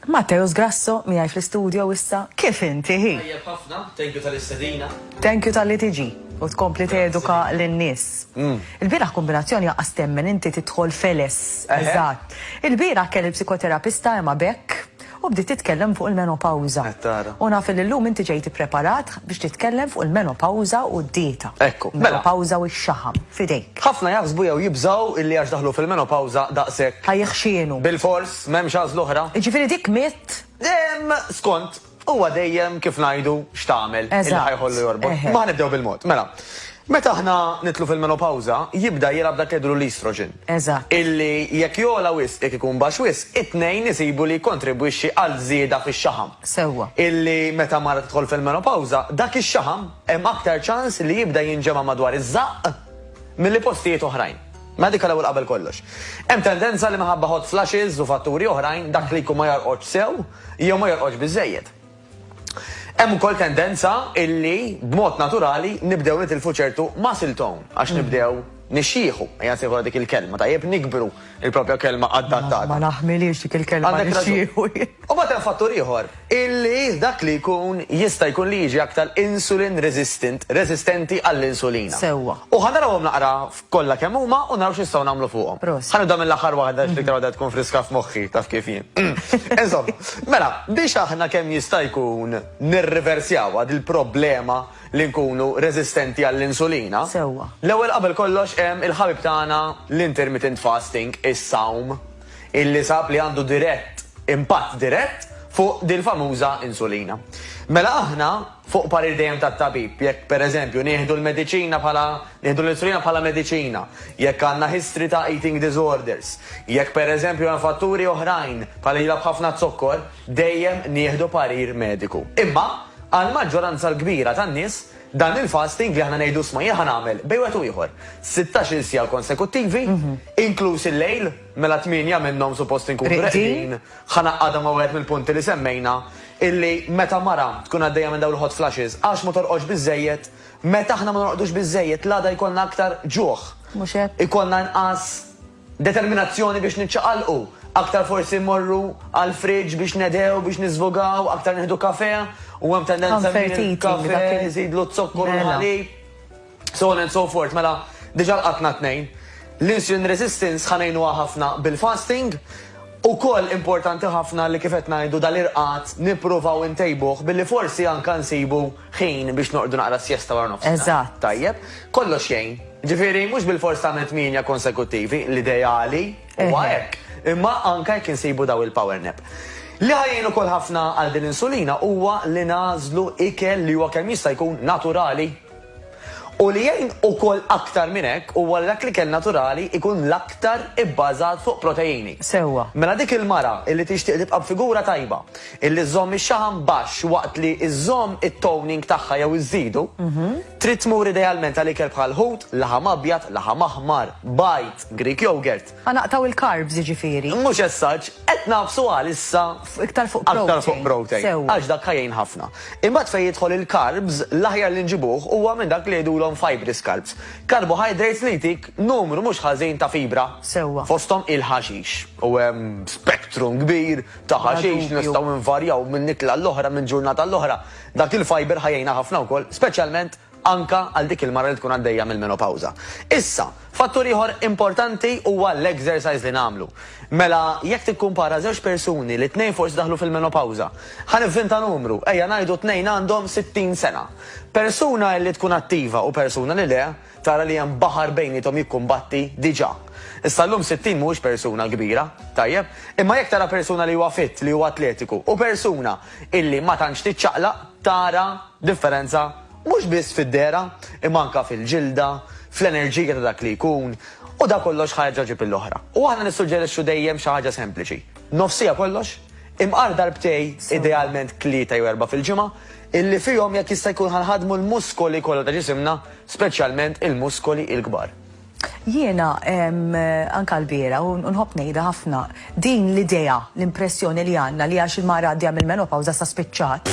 Matteus Grasso miegħi fl-istudio issa kif inti hi? Tajjeb ħafna, thank you tal-istedina. Thank you talli tiġi u tkompli teduka lin-nies. Mm. Il-bieraħ kombinazzjoni jaqas temmen inti tidħol feles. Eżatt. Il-bieraħ kelli psikoterapista Emma Beck u bdiet titkellem fuq il-menopawza. U naf li llum inti ġejt ippreparat biex titkellem fuq il-menopawza u d-dieta. Ekku. Mela. Menopawza u x-xaħam. f'idejk. Ħafna jaħsbu jew jibżgħu illi għax daħlu fil-menopawża daqshekk. Ħa jiħxienu. Bilfors, m'hemmx għażla oħra. Jiġifieri dik mitt? Ehm, skont, huwa dejjem, kif ngħidu, x'tagħmel, illi ħa jħollu jorbot. Imma ħa nibdew bil-mod. Mela, meta aħna nidħlu fil-menopawża, jibda jilgħab dak li jgħidulu l-estrogen. Eżatt. Illi jekk jogħla wisq, jekk ikun baxx wisq, it-tnejn isibu li jikkontribwixxi għal żieda fix-xaħam. Sewwa. Illi meta mara tidħol fil-menopawża, dak ix-xaħam, hemm aktar ċans li jibda jinġema' madwar iż-żaqq milli postijiet oħrajn. Mela dik l-ewwel qabel kollox. Hemm tendenza li minħabba hot flashes u fatturi oħrajn dak li jkun ma jorqodx sew jew ma jorqodx biżżejjed. Hemm ukoll tendenza illi b'mod naturali nibdew nitilfu ċertu muscle tone għax nibdew nixjieħu, ejja nsejħulha dik il-kelma, tajjeb, nikbru, Il-propja kelma adattata. Ma naħmilhiex dik il-kelma. Għandek raġun. U mbagħad hemm fattur ieħor, illi dak li jkun jista' jkun li jiġi aktar insulin resistant, resistenti għall-insulina. Sewwa. U ħa narawhom naqra kollha kemm huma u naraw x'nistgħu nagħmlu fuqhom. Proset. Ħa nibda mill-aħħar waħda għax l-iktar waħda tkun friska f'moħħi, taf kif jien. Insomma, mela, biex aħna kemm jista' jkun nirriversjawha dil-problema, li nkunu reżistenti għall-insulina. Sewwa. L-ewwel qabel kollox hemm il-ħabib tagħna l-intermittent fasting, is-sawm, illi sab li għandu dirett, impatt dirett fuq dil-famuża insulina. Mela aħna, fuq parir dejjem tat-tabib, jekk pereżempju nieħdu l-mediċina bħala, nieħdu l-insulina bħala mediċina, jekk għandna history ta' eating disorders, jekk pereżempju hemm fatturi oħrajn bħal ilha b'ħafna zokkor, dejjem nieħdu parir mediku. Imma, għall-maġġoranza l-kbira tan-nies, dan il-fasting li aħna ngħidu isma' jien ħa nagħmel, bejn wieħed u ieħor, sittax-il siegħa konsekuttivi, inkluż il-lejl, mela tmienja minnhom suppost inkunu reqdin, ħa ngħaqqadha ma' wieħed mill-punti li semmejna, illi meta mara tkun għaddejja minn dawn il-hot flashes għax ma torqodx biżżejjed, meta aħna ma norqdux biżżejjed l-għada jkollna aktar ġuħ, ikollna inqas, Determinazzjoni biex niċċaqalqu, aktar forsi mmorru għall-fridge biex nedhew, biex niżvugaw, aktar nieħdu kafè, u hemm tendenza li l-kafè iżidlu z-zokkor u l-ħalib, so on and so forth. Mela, diġà lqatna tnejn. L-insulin resistance ħa ngħinuha ħafna bil-fasting. Ukoll importanti ħafna li kif qed ngħidu dal-irqad nippruvaw intejbuh billi forsi anke nsibu ħin biex noqogħdu naqra s-siesta wara nofsinhar. Eżatt. Tajjeb. Kollox jgħin. Ġifieri mhux bilfors tagħmel tmienja konsekuttivi, l-ideali huwa hekk. Imma anke jekk insibu daw il-power nap. Li ħa jgħin ukoll ħafna għal din l-insulina huwa li nagħżlu ikel li huwa kemm jista' jkun naturali. U li jgħin ukoll aktar minn hekk huwa li dak l-ikel naturali jkun l-aktar ibbażat fuq proteini. Sewwa. Mela dik il-mara li tixtieq tibqa' b'figura tajba, li żżomm ix-xaħam baxx waqt li żżomm it-toning tagħha jew iżżidu, trid tmur idealment għal ikel bħal ħut, laħam abjad, laħam aħmar, bajd, Greek yogurt. Ħa naqtgħu l-carbs jiġifieri. Mhux as such, qed nagħfsu għalissa. Iktar fuq protein. Aktar fuq protein. Sewwa. Għax dak ħa jgħin ħafna. Imbagħad fejn jidħol il-carbs, l-aħjar li nġibuh huwa minn dak li jgħidulhom fibrous carbs. Carbohydrates li jtik numru mhux ħażin ta' fibra. Sewwa. Fosthom il-ħaxix. U hemm spectrum kbir ta' ħaxix li nistgħu nvarjaw minn ikla għall-oħra, minn ġurnata għall-oħra. Dak il-fiber ħa jgħinha ħafna wkoll, speċjalment anke għal dik il-mara li tkun għaddejja mill-menopawża. Issa, fattur ieħor importanti huwa l-exercise li nagħmlu. Mela, jekk tikkumpara żewġ persuni li t-tnejn forsi daħlu fil-menopawża, ħa nivvinta numru, ejja ngħidu t-tnejn għandhom 60 sena. Persuna li tkun attiva u persuna li le, tara li hemm baħar bejniethom jikkumbatti diġà. Issa llum 60 mhuwiex persuna kbira, tajjeb? Imma jekk tara persuna li huwa fit, li huwa atletiku, u persuna illi ma tantx tiċċaqlaq, tara Differenza mhux biss fid-dehra imma anke fil-ġilda, fl-enerġija ta' dak li jkun, u dan kollox ħa jerġa' jġib lill-oħra. U aħna nissuġġerixxu dejjem xi ħaġa sempliċi, nofsija kollox, imqar darbtej, idealment tlieta jew erbgħa fil-ġimgħa, illi fihom jekk jista' jkun ħa nħaddmu l-muskoli kollha ta' ġisimna, speċjalment il-muskoli l-kbar. Jiena, anke lbieraħ, u nħobb ngħidha ħafna, din l-idea, l-impressjoni li għandna li għax il-mara għaddejja mill-menopawża issa spiċċat,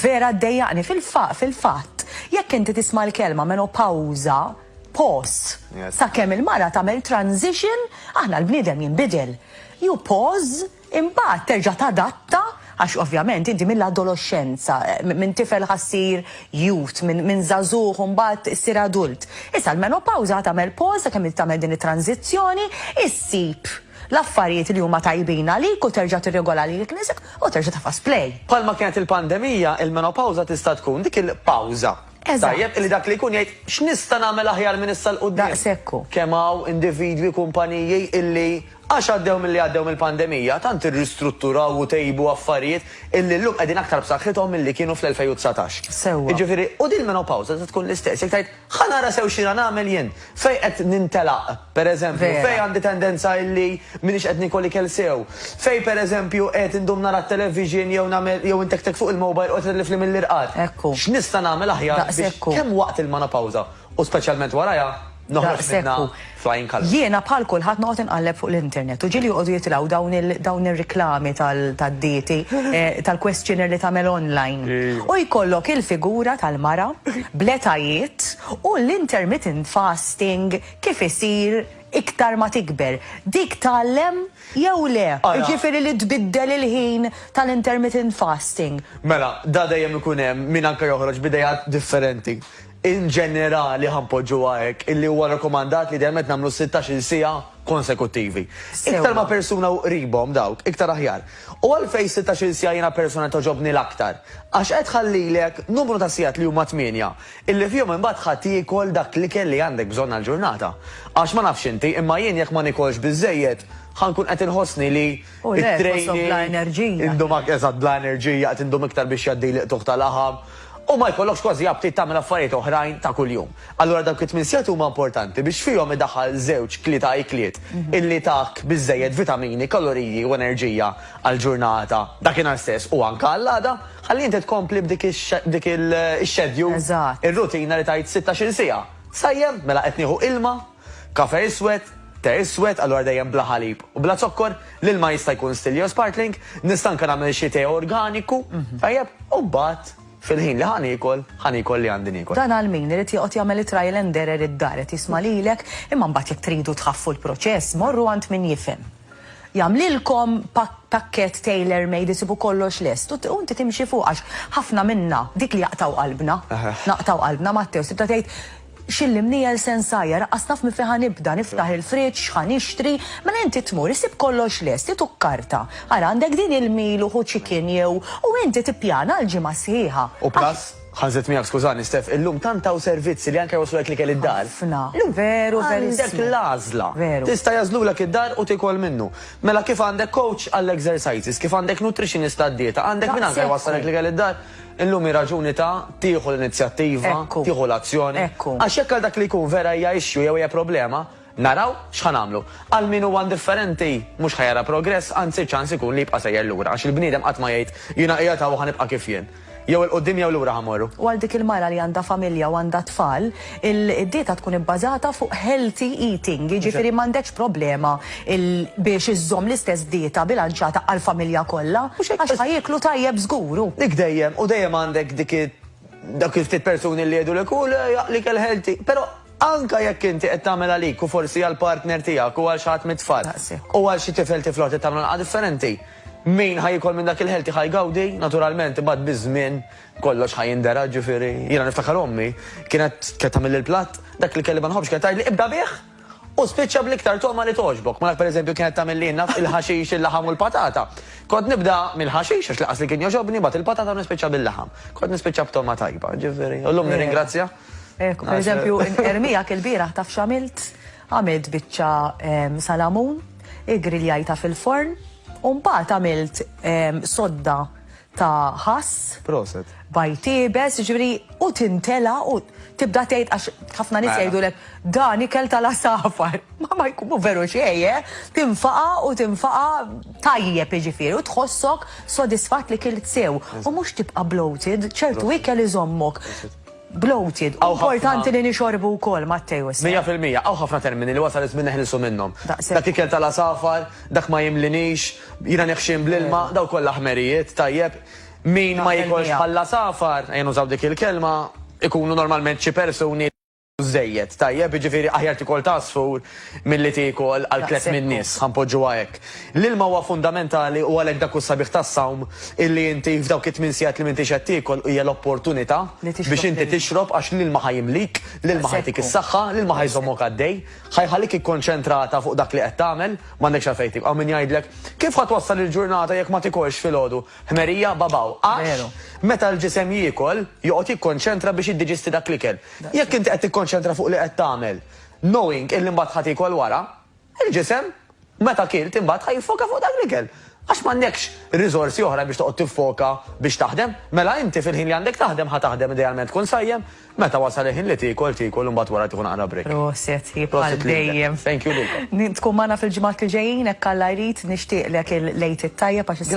vera ddejjaqni. Fil-fatt, jekk inti tisma' l-kelma menopawża, pause, sakemm il-mara tagħmel transition, aħna l-bniedem jinbidel. You pause. Imbagħad terġa' tadatta, għax ovvjament inti mill-adoloxxenza, minn tifel ħa ssir youth, minn żagħżugħ imbagħad issir adult. Issa l-menopawża ħa tagħmel pause sakemm inti tagħmel din it-tranżizzjoni, issib l-affarijiet li huma tajbin għalik u terġa' tirregola lilek innifsek u terġa' tafas play. Bħalma kienet il-pandemija, il-menopawża tista' tkun dik il-pawża. Eżatt. Tajjeb illi dak li jkun jgħid, x'nista' nagħmel aħjar minn issa 'l quddiem? Daqshekk hu. Kemm hawn individwi, kumpaniji illi. Għax għaddew milli għaddew mill-pandemija, tant irristrutturaw u tejbu affarijiet illi llum qegħdin aktar b'saħħithom milli kienu fl-2019. Sewwa. Jiġifieri, u din il-menopawża se tkun l-istess. Jekk tgħid, ħa nara sew x'jiena nagħmel jien. Fejn qed nintelaq, pereżempju. Vera. Fejn għandi tendenza illi m'iniex qed niekol ikel sew. Fejn, pereżempju, qed indum nara t-television jew nagħmel, jew intektek fuq il-mobile u qed itlifli mill-irqad. Hekk hu. X'nista' nagħmel aħjar biex. Daqshekk hu. Kemm waqt il-menopawża u speċjalment warajha. Noħroġ minnha flying colours. Jiena bħal kulħadd noqgħod inqalleb fuq l-internet u ġieli joqogħdu jitilgħu dawn il dawn ir-riklami tal tad-dieti tal-questionnaire li tagħmel online. U jkollok il-figura tal-mara bl-etajiet u l-intermittent fasting kif isir iktar ma tikber. Dik tgħallem jew le? Jiġifieri li tbiddel il-ħin tal-intermittent fasting. Mela, da dejjem ikun hemm min anke joħroġ b'ideat differenti. In ġenerali, ħa npoġġuha hekk, illi huwa rakkomandat li idealment nagħmlu sittax-il siegħa konsekuttivi. Iktar ma' persuna u qribhom dawk, iktar aħjar. U għalfejn sittax-il siegħa jiena personalment togħġobni l-aktar? Għax qed tħallilek numru ta' sigħat li huma tmienja, illi fihom imbagħad ħa tiekol dak l-ikel li għandek bżonn għall-ġurnata. Għax ma nafx inti, imma jien jekk ma niekolx biżżejjed, ħa nkun qed inħossni li, U le, qosok bla enerġija. Indum ak, eżatt, bla enerġija, qed indum iktar biex jgħaddi l-iqtugħ ta' laħam, u ma jkollokx kważi aptit tagħmel affarijiet oħrajn ta' kuljum. Allura dawk it-tmien sigħat huma importanti biex fihom idaħħal żewġ, tlieta ikliet illi tak biżżejjed vitamini, kaloriji u enerġija għall-ġurnata, dakinhar stess u anke għall-għada, ħalli inti tkompli b'dik b'dik il-schedule, ir-rutina li tgħid sittax-il siegħa. Sajjem? Mela qed nieħu ilma? Kafè iswed, te iswed, allura dejjem bla ħalib u bla zokkor, l-ilma jista' jkun still jew sparkling, nista' anke nagħmel xi te organiku, tajjeb, u mbagħad fil-ħin li ħa niekol, ħa niekol li għandi niekol. Dan għal min irid joqgħod jagħmel it-trial and error id-dar, qed jisma' lilek, imma mbagħad jekk tridu tħaffu l-proċess, morru għand min jifhem. Jagħmlilkom pakkett tailor made isibu kollox lest u inti timxi fuq għax ħafna minna, dik li jaqtgħu qalbna, naqtgħu qalbna Matteo sibtha tgħid, X'illi mniegħel se nsajjar, aqqas naf minn fejn ħa nibda, niftaħ il-fridge, x'ħa nixtri, mela inti tmur isib kollox lest, int u karta, ara għandek din il-meal u hu chicken jew, u inti tippjana għall-ġimgħa sħiħa. U plus Ħażet miegħek skużani Steph, illum tant hawn servizzi li anke jwasslulek l-ikel id-dar. Ħafna. Veru verissmu. Għandek l-għażla. Veru. Tista' jagħżlulek id-dar u tiekol minnu. Mela kif għandek coach għall-exercises, kif għandek nutritionist għad-dieta, għandek min anke jwassalek l-ikel id-dar, illum hi raġuni ta' tieħu l-inizjattiva, tieħu l-azzjoni. Għax jekk għal dak li jkun vera hija issue jew hija problema, Naraw x'ħa nagħmlu. Għal min huwa indifferenti, mhux ħa jara progress, anzi ċ-ċans ikun li jibqa' sejjer lura, għax il-bniedem qatt ma jgħid, jiena qiegħed hawn u ħa nibqa' kif jien. Jew 'il quddiem jew lura ħa mmorru. U għal dik il-mara li għandha familja u għandha t-tfal, il-dieta tkun ibbażata fuq healthy eating, jiġifieri m'għandekx problema biex iżżomm l-istess dieta bilanċjata għall-familja kollha, għax ħa jieklu tajjeb żgur. U. Dik dejjem, u dejjem għandek dik, dawk il-ftit persuni li jgħidulek, hu le, ikel healthy. Però. Anke jekk inti qed tagħmel għalik u forsi għall-partner tiegħek u għal xi ħadd mit-tfal, u għal xi tifel tifla oħra trid tagħmlu naqra differenti, min ħa jiekol minn dak il-healthy ħa jgawdi, naturalment, imbagħad biż-żmien kollox ħa jindergħa, ġifieri, jiena niftakar ommi kienet kienet tagħmilli l-platt, dak li kelli ma nħobbx kienet tgħidli ibda bih u spiċċa bl-iktar togħma li togħġbok. Mela pereżempju kienet tagħmilli naf il-ħaxix, il-laħam u l-patata. Kont nibda mill-ħaxix għax laqas li kien joġobni, bat il-patata nispiċċa bil-laħam. Kont nispiċċa b'togħma tajba, ġifieri. U llum nirringrazzja. Ekku, per eżempju, ermijak il-bieraħ taf xamilt? Għamilt biċċa ehm, salamun, igriljajta fil-forn, u mbagħad għamilt ehm, sodda ta' ħass. Proset. Bajtibes, ġviri, u tintela u tibda tgħid għax ħafna nis mela. jgħidulek dan ikel tal-asafar. Ma ma jkunu veru xejn, eh? tinfaqa u tinfaqa tajjeb iġifieri u tħossok sodisfat li kilt sew. U mhux tibqa' bloated, ċertu ikel iżommok. bloated. Hawn ħafna- Importanti li nixorbu wkoll, Matteo, issa. Mija fil-mija, hawn ħafna termini li wasal iż-żmien neħilsu minnhom. Daqshekk. Dak ikel tal-għasafar, dak ma jimlinix, jiena neħxien bl-ilma, dawn kollha ħmerijiet, tajjeb. Min ma Naqbel jikolx miegħek. bħall-għasafar, ejja nużaw dik il-kelma, ikunu normalment xi persuni li żejjed, tajjeb, jiġifieri aħjar tikol t'għasfur Milli tieku għal tlett min-nies, ħa npoġġuha hekk. L-ilma huwa fundamentali u għalhekk dak hu s-sabiħ tas-sawm, illi inti f'dawk it-tmien sigħat li m'intix qed tiekol hija l-opportunità biex inti tixrob għax l-ilma ħa jimlik, l-ilma ħa jtik is-saħħa, l-ilma ħa jżommok għaddej, ħa jħallik ikkonċentrata fuq dak li qed tagħmel, m'għandekx għalfejn tiekol. Hawn min jgħidlek, kif ħa twassal il-ġurnata jekk ma tikolx filgħodu? Ħmerija, babaw. Għax meta l-ġisem jiekol, joqgħod jikkonċentra biex jiddiġisti dak l-ikel. Jekk inti qed tikkonċentra fuq li qed tagħmel, Knowing illi mbagħad ħa tiekol wara, il-ġisem meta kilt imbagħad ħa jiffoka fuq dak l-ikel. Għax m'għandekx riżorsi oħra biex toqgħod tiffoka biex taħdem. Mela inti fil-ħin li għandek taħdem ħa taħdem idealment tkun sajjem, meta wasal il-ħin li tiekol tiekol u mbagħad wara tieħu naqra break. Proset hi bħal dejjem. Prosit lilek. Thank you lilkom. Tkun magħna fil-ġimgħat li ġejjin hekk Alla jrid, nixtieqlek il-Lejt it-Tajjeb għax issa